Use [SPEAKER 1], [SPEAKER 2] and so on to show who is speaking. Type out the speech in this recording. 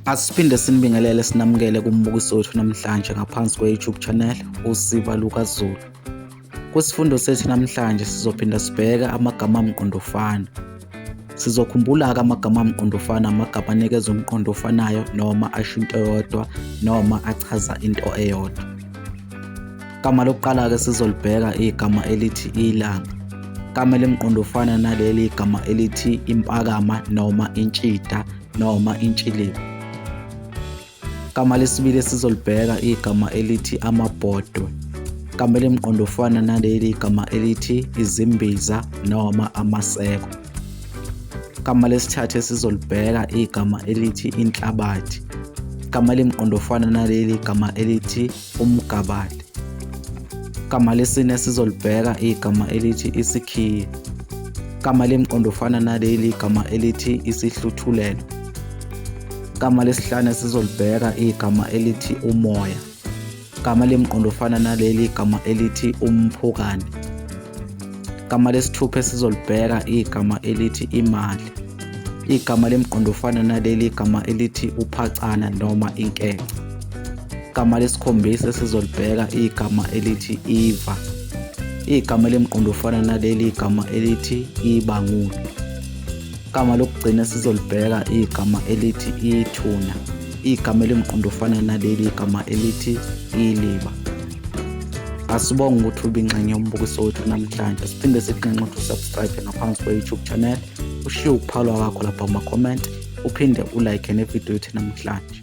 [SPEAKER 1] Asiphinde sinibingelele sinamukele kumbukiso wethu namhlanje ngaphansi kwe-YouTube channel uSiba LukaZulu. Kwisifundo sethu namhlanje sizophinda sibheke amagama amqondofana. Sizokhumbula-ke amagama amqondofana amagama anikeza umqondo ofanayo noma asho into eyodwa noma achaza into eyodwa. Igama lokuqala-ke sizolibheka igama elithi ilanga. Igama elimqondofana naleli igama elithi impakama noma intshida noma intshiliba. Igama lesibili esizolibheka igama elithi amabhodwe. Igama elimqondo ofana naleli igama elithi izimbiza noma amaseko. Igama lesithathu esizolibheka igama elithi inhlabathi. Igama elimqondo ofana naleli igama elithi umgabade. Igama lesine esizolibheka igama elithi isikhiye. Igama lemqondo ofana naleli igama elithi isihluthulelo. Igama lesihlanu esizolibheka igama elithi umoya. Igama lemqondo ofana naleli igama elithi umphukane. Igama lesithupha esizolibheka igama elithi imali. Igama lemqondo ofana naleli igama elithi uphacana noma inkece. Igama lesikhombisa esizolibheka igama elithi iva. Igama elimqondo ofana naleli igama elithi ibangulu. Igama lokugcina esizolibheka igama elithi ithuna. Igama elimqondo ofana naleli igama elithi iliba. Asibonge ukuthi ubinxenye yombukiso wethu namhlanje. Siphinde sikunxenxe ukuthi usubscribe ngaphansi kwe-YouTube channel. Ushiye ukuphalwa kwakho lapha kuma-comment. uphinde ulike nevidiyo yethu namhlanje.